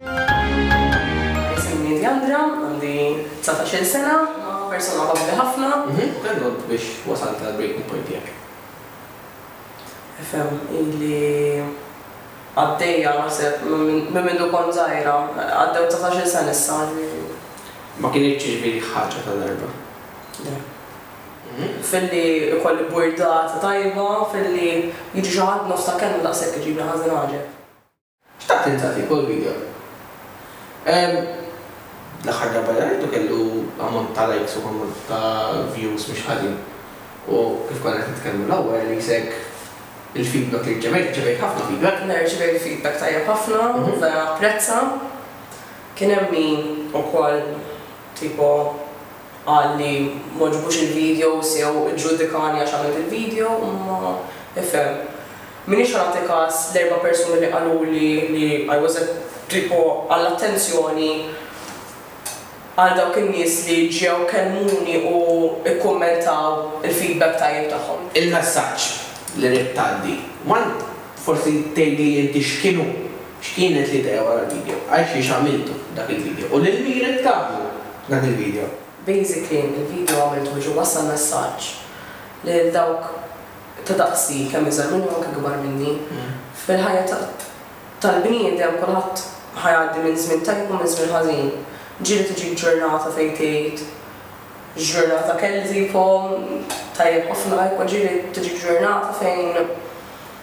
Isimni Diandra, għandi dsatax-il sena, persuna afabbli ħafna. Kemm għodt biex wasalt għall-breaking point tiegħek? Ifhem, ili għaddejja naħseb minn mindu kont żgħira, għaddew dsatax-il sena issa, ġifieri. Ma kinitx tiġbidlek ħaġa ta' darba? Le. Filli jkolli burdata tajba, filli jiġi xi ħadd nofs ta' kelma daqshekk iġibli ħażin għaġeb. Xtaqt ninżgħa fik, hu l-video. L-aħħar darba li rajtu kellu ammont ta' likes u ammont ta' views mhux ħażin. U kif konna qed nitkellmu l-ewwel qisek il-feedback li rċevejt, irċevejt ħafna feedback. Le rċevejt feedback tajjeb ħafna, vera apprezza. Kien hemm min ukoll tipo. qal li m'għoġbux il-videos jew iġġudikani għax għamilt il-video, imma ifhem. M'iniex ħa nagħti kas l-erba' persuni li qaluli li I was a tipo għall-attenzjoni għal dawk in-nies li ġew kellmuni u kkummentaw il-feedback tajjeb tagħhom. Il-messaġġ li ridt tgħaddi. One, forsi tgħidli inti x'kien hu X'kienet l-idea wara l-video? Għalxiex għamiltu dak il-video? U lil min ridt tagħmlu dan il-video? Basically il-video għamiltu biex inwassal messaġġ lil dawk ta' daqsi, kemm iżgħar minni u anke kbar minni. Fil-ħajja tal-bniedem kulħadd ħa jgħaddi minn żmien tajjeb u minn żmien ħażin. Ġieli tiġik ġurnata fejn tgħid, Ġurnata kellha, tajjeb ħafna, imma ġieli tiġik ġurnata fejn,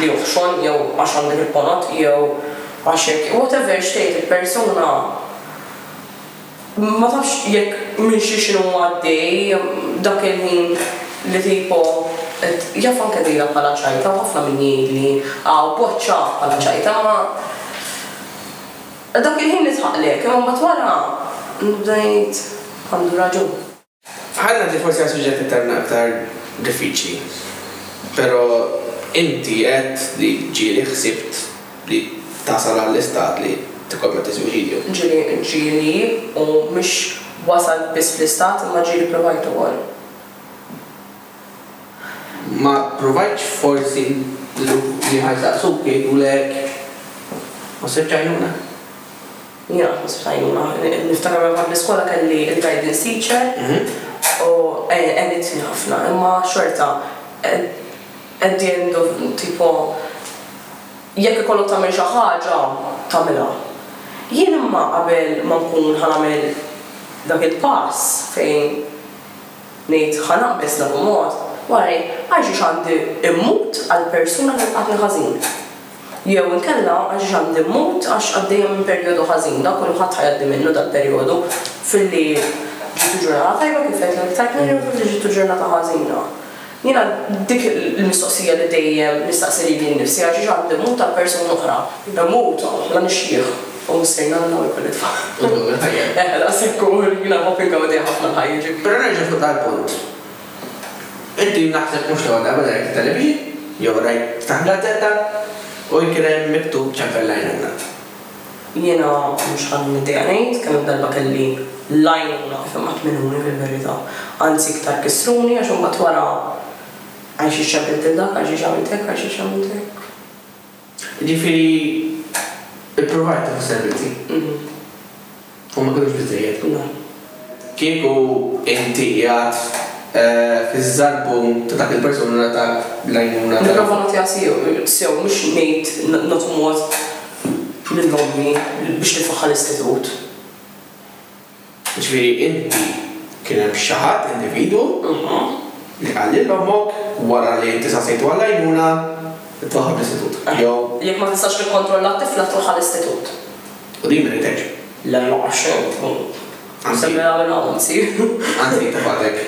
li hu f'xogħol jew għax għandu l-iponot jew għax hekk, whatever x'tgħid il-persuna ma tafx jekk minn xi x'inhu għaddej dak il-ħin li tipo qed jaf anke tgħidha bħala ċajta u ħafna min jgħidli aw b'għodd ċaf bħala ċajta imma dak il-ħin nidħaqlek imma mbagħad wara nibda ngħid għandu raġun. Ħalli ngħaddi forsi għas-suġġett iktar aktar diffiċli. Però inti għedt li ġieli ħsibt li tasal għall-istat li tikkommetti suwiċidju. Ġieli, ġieli u mhux wasalt biss fl-istat imma ġieli ppruvajt ukoll. Ma ppruvajtx forsi li ħa jsaqsuk jgħidulek ma ssibtx għajnuna? Jonqos b'tgħajnuna. Niftakar meta kont l-iskola kelli l-guidance teacher u għenitni ħafna imma xorta at the end of tipo jekk ikollok tagħmel xi ħaġa tagħmilha. Jien imma qabel ma nkun ħa nagħmel dak il-pass fejn ngħid ħa naqbeż l-akumot, wara ngħid għalxiex għandi mmut għall-persuna li lqatni ħażin? Jew inkella għax għandi mmut għax għaddejja minn perjodu ħażin. Dan kollu ħadd ħajgħaddi minnu dal-perjodu filli ġietu ġurnata tajba kif għedt l-aktar kmieni jew filli ġietu ġurnata ħażina. Jiena dik il-mistoqsija li dejjem nistaqsi lili nnifsi għalxiex għandi mmut għal persuna oħra. Immut la nixjieħ u missier nagħlaq u jkolli tfal. Eħe daqshekk hu jiena nħobb ingaudi ħafna l-ħajja ġifieri. Però nerġa' fuq dal-punt. Inti naħseb mhux l-ewwel darba li rajt it-television, jew rajt ftaħt gazzetta u jkien hemm miktub ċempel l-għajnuna ngħad. Jiena mhux ħadt middejja ngħid kemm-il darba kelli l-għajnuna kif imattminuni fil-verità. Anzi iktar kissruni għax imbagħad wara, Għalxiex ċempilt lil dak, għalxiex għamilt hekk, għalxiex għamilt hekk. Jiġifieri ippruvajt tieħu servizzi u ma kinux biżżejjed. Kieku inti qiegħed fiż-żarbun ta' dak il-persuna li ngħatak l-għajnuna ta'. Nipprova nagħtiha sew, mhux ngħid nagħtu mod lil ommi biex nifaħħar l-istitut. Jiġifieri inti kien hemm xi ħadd, individwu, li qal lil ommok wara li inti saqsejtu għall-għajnuna tmorrha bl-istitut, jew. Jekk ma tistax tikkontrolla t-tifla tmur ħa l-istitut. U din miritek? Le ma għax int. Se nara minn hawn insir. Anzi jekk tifgħatek.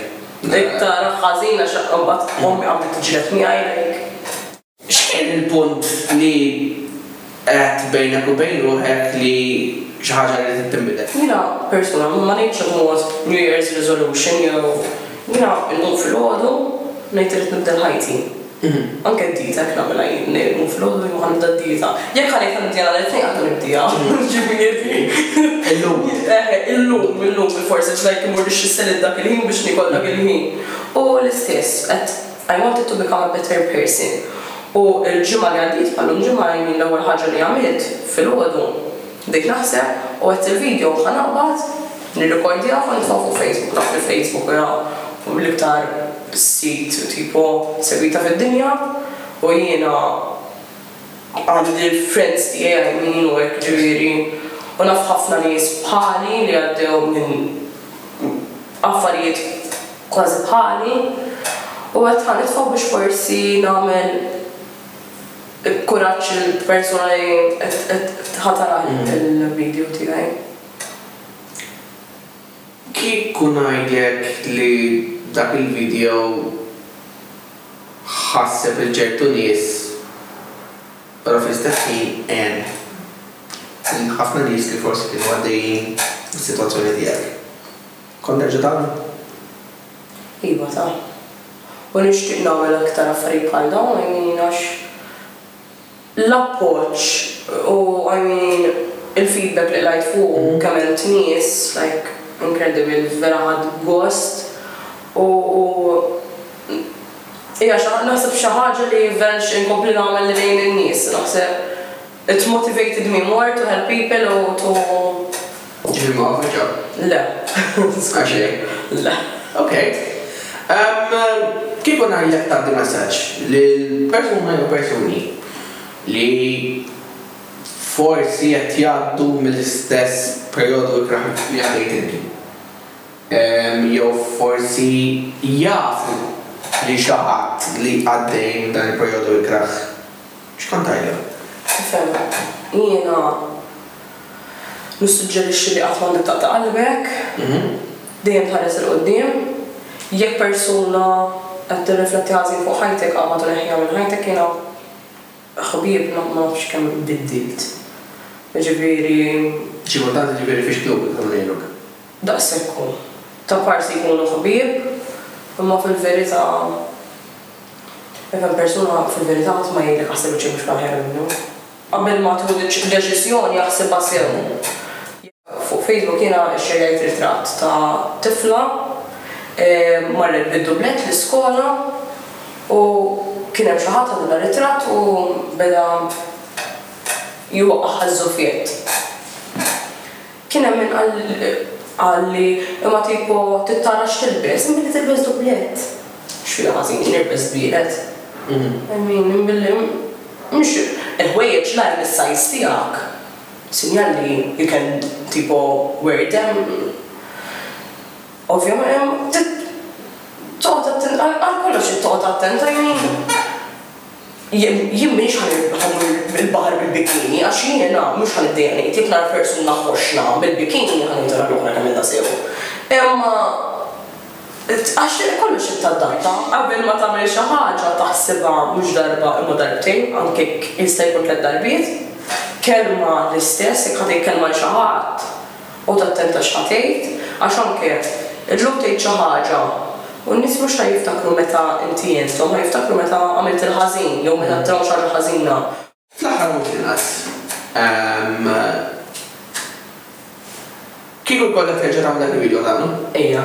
Dik tara ħażin għax imbagħad ommi qabdet tiġġieled miegħi jekk. X'kien il-punt li għedt bejnek u bejn ruħek li xi ħaġa ridet tinbidel? Jiena persuna ma ngħidx immut New Year's Resolution jew jiena nqum filgħodu ngħid irrid nibdel ħajti. Anke d-dieta hekk nagħmilha jien, ngħid nqum filgħodu jien ħa nibda d-dieta. Jekk ħa ngħid ħa nibdiha nhar it-Tnejn qatt ma nibdiha, ġifieri. Illum. Eħe, illum, illum bilfors, it's like immur nixxi s-salitt dak il-ħin biex niekol dak il-ħin. U l-istess qed. I wanted to become a better person u l-ġimgħa li għaddiet bħallum ġimgħa jien l-ewwel ħaġa li għamilt filgħodu bdejt naħseb u għedt il-video ħa naqbad nirrikordjah u nitfgħu fuq Facebook naf li Facebook huwa l-iktar sit tipo segwita fid-dinja u jiena għandi l-friends tiegħi għajmin u hekk ġifieri u naf ħafna nies bħali li għaddew minn affarijiet kważi bħali, u għedt ħa nitfa' biex forsi nagħmel kuraġġ lill-persuna li qed ħa tara l-video tiegħi. Kieku ngħidlek li dak il-video ħasseb lil ċertu nies, però fl-istess ħin għen lil ħafna nies li forsi kienu għaddejjin mis-sitwazzjoni tiegħek. Kont nerġa' tagħna? Iva ta. U nixtieq nagħmel aktar affarijiet bħal dawn I mean għax l-appoġġ u I mean il-feedback li qlajt fuqu kemm għent nies like incredible vera ħadt gost u hija xi naħseb xi ħaġa li vera nixtieq inkompli nagħmel lejn in-nies naħseb It motivated me more to help people u to. Ġifieri ma għamilx ġab? Le. Għax hekk? Le. Okej. Kieku ngħidlek tgħaddi messaġġ lil persuna jew persuni li forsi qed jgħaddu mill-istess perjodu ikrah li għaddejt inti, jew forsi jafu li xi ħadd li għaddej minn dan il-perjodu ikrah. X'kantajlha? Nifhemlek. Jiena nissuġġerixxi li qatt m'għandek taqta' qalbek. Dejjem tħares 'il quddiem. Jekk persuna qed tirrifletti ħażin fuq ħajtek, qabad u neħħiha minn ħajtek. Jiena ħbieb ma nafx kemm biddilt. Jiġifieri. Xi kultant jiġifieri fiex tlub biex inkun ngħinuk? Daqshekk hu. Ta' parsi jkunu ħbieb, imma fil-verità. Jekk hemm persuna, fil-verità ħadd ma jgħidlek aħseb li xi mhux aħjar minnu. Qabel ma tieħu deċiżjoni aħsibha sew. Jekk fuq Facebook jiena xxerjajt ritratt ta' tifla marret bid-dublett l-iskola u kien hemm xi ħadd ħadu dar-ritratt u beda jwaqqagħha ż-żuffiett. Kien hemm min qal qal li imma tipo tittara x'tilbes, inbidli tilbes dubblett. X'fiha ħażin jien irbes wieħed? I mean inbidli mhux il-ħwejjeġ la hemm is-size tiegħek. Sinjal li you can tipo wear them. Ovvjament trid toqgħod attent għal kollox trid toqgħod attent i mean. Jien, jien m'iniex ħa dur il-baħar bil-bikini, għax jien in a mhux ħa niddejjaq ngħid, jekk nara persuna ħoxna bil-bikini ħa ngħidilha lura nagħmilha sew. Imma għax kollox irid tadatta, qabel ma tagħmel xi ħaġa taħsibha mhux darba imma darbtejn, anke jekk jista' jkun tliet darbiet. Kelma l-istess, jekk ħa tgħid kelma lil xi ħadd, U tattenta x'ħa tgħid, għax anke illum tgħid xi ħaġa u n-nies mhux ħa jiftakru meta inti għinthom, ħa jiftakru meta għamilt il-ħażin jew meta drawk xi ħaġa ħażina. Fl-aħħar mhux l-inqas, kieku jkollok terġa' tagħmel dak il-vidjo tagħmlu? Ejja.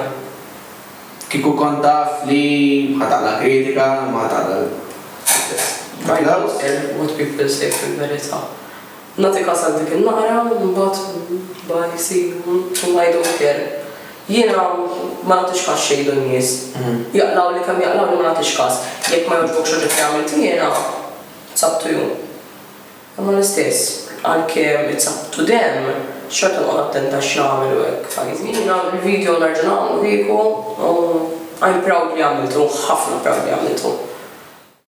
Kieku kont taf li ħa taqla' kritika, ma ħa taqla' l-applawż. Write what people say fil-verità. Nagħti kas għal dik in-naqra u mbagħad bye see you u I don't care. Jiena ma nagħtix kas x'jgħidu n-nies. Jaqlgħuli kemm jaqlgħuli ma nagħtix kas. Jekk ma jogħġbokx oġġett li għamilt jiena, it's up to you. Imma l-istess, għalkemm it's up to them, xorta nqgħod attenta x'nagħmel u hekk, f'għajnejn. Jiena l-video nerġa' nagħmlu kieku u I'm proud li għamiltu, ħafna proud li għamiltu.